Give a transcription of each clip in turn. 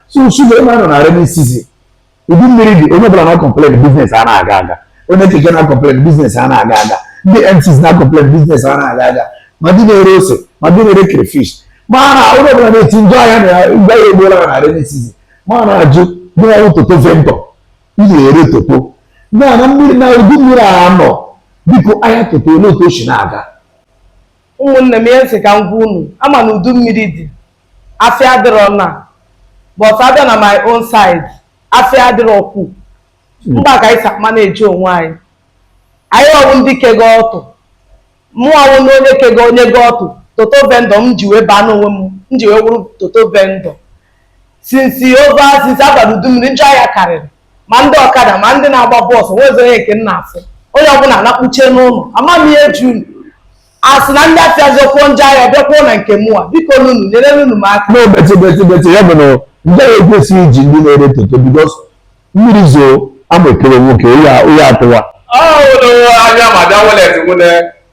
so shuga ịma nọ na rainy season udu mmiri dị onye ọbụla na-akọmplen biznes a na-aga aga onye keke na-akọmplen biznes a na-aga aga ndị MCs na-akọmplen biznes a na-aga aga ma ndị na-ere ose ma ndị na-ere crayfish ma na onye ọbụla na-eti njọ ahịa na ngwa ya egbuola na rainy season mana ajụ ndị na-arụ toto vendọ ị na-ere toto na na mmiri na udu mmiri a nọ biko ahịa toto olee otu o si na-aga ụmụnne m ihe m sị ka m gwa unu ama na udu mmiri dị afịa adịrọ na but abịa na my own side afịa adịrọkwu mgba ka anyị sa ma na-eji onwe anyị anyị ọ wụ ndị kego ọtụ mụ ọ wụ na onye kego onye go ọtụ toto vendọ m ji wee baa n'onwe m m ji wee wụrụ toto vendọ since ova since a balụ udu mmiri njọ ahịa karịrị ma ndị ọkada ma ndị na-agba bọọsụ nwezi onye nke m na-afụ onye ọbụla na-akpuchie n'ụlọ ama m ihe juu a sị na ndị afịa zọkwuo njọ ahịa bịakwuo na nke mụwa biko nunu nyere nunu m aka no bete bete bete ya bụ na njọ ahịa ekwesịghị iji ndị na-ere toto bikos mmiri zoo amụ ekelie nwoke onye a- onye atụwa ọhụrụ anya ma bịa welet nwune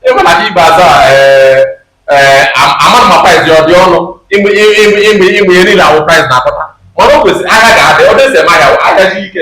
ịma na gị ibe aza amara ma price ya ọ dị ọnụ ịma ihe niile awụ price na-akpata mana o kwesịrị ahịa ga-adị ọ dịsị eme ahịa ahịa ji ike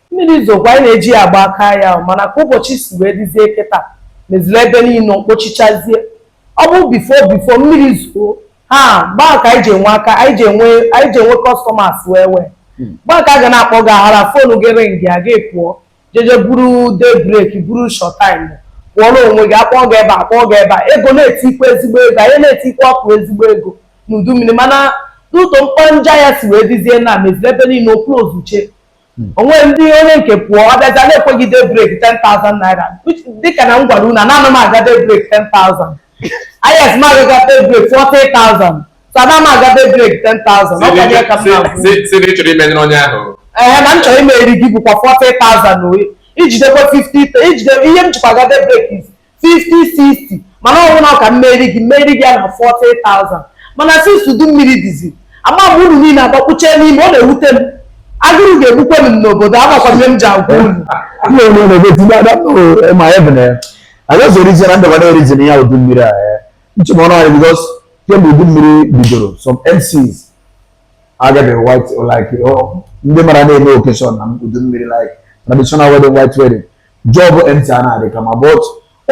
Mmiri zokwa anyị na-eji ya agba aka ahịa mana ka ụbọchị si wee dịzie kịta meziri ebe niile mkpochichazie ọ bụ bifo bifo mmiri zoo ha gbaa ka anyị ji enwe aka anyị ji enwe anyị ji enwe kọstọmas wee wee hmm. gbaa ka a ga na-akpọ gị aghara fonu gị ring ya gị pụọ jeje buru day break buru short time pụọ n'onwe gị akpọọ gị ebe a kpọọ gị ebe a ego na-etikwa ezigbo ego anyị na-etikwa ọkụ ezigbo ego n'udu mmiri mana n'ụtọ mkpọ nja ya si wee dizie na meziri ebe niile oklozuchie hmm. o nwe ndị onye nke pụọ ọ bịaza na-ekwe gị day break 10,000 naira dịka na m gwara unu na ana m aga day break 10,000 yes m aga-aga day break 40,000 so ana m aga day break 10,000 ọ kwanye ka m na-akwụ si na ị chọrọ imenyere onye ahụ ee na m chọrọ imere gị bụkwa 40,000 i jidekwa 50 i jide ihe m jikwa aga day break is 50 60 mana ọ wụ na ọ ka m mere gị m mere gị ya na 40,000 mana since udu mmiri dizi ama m unu niile agbakpuchie n'ime ọ na-ewute m agụrụ ga-egbukwe m n'obodo amakwa m ihe m ji agwa unu Ndị onye na-ebe tinye ada oh, ma ya bụ na ya. Anyị ọzọ erijin na ndabara erijin ya udu mmiri a. eh. Nchụm ọnụ anyị bikos kemgbe udu mmiri bidoro some MCs agaghị white like oh, ndị mara na-eme occasion na udu mmiri like traditional wedding white wedding. job MC a na-adị kama but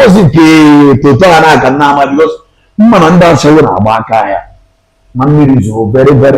ozi nke toto a na-aka nna ama bikos m ma na ndị ashawo na-agba aka ahịa ma mmiri zoro very very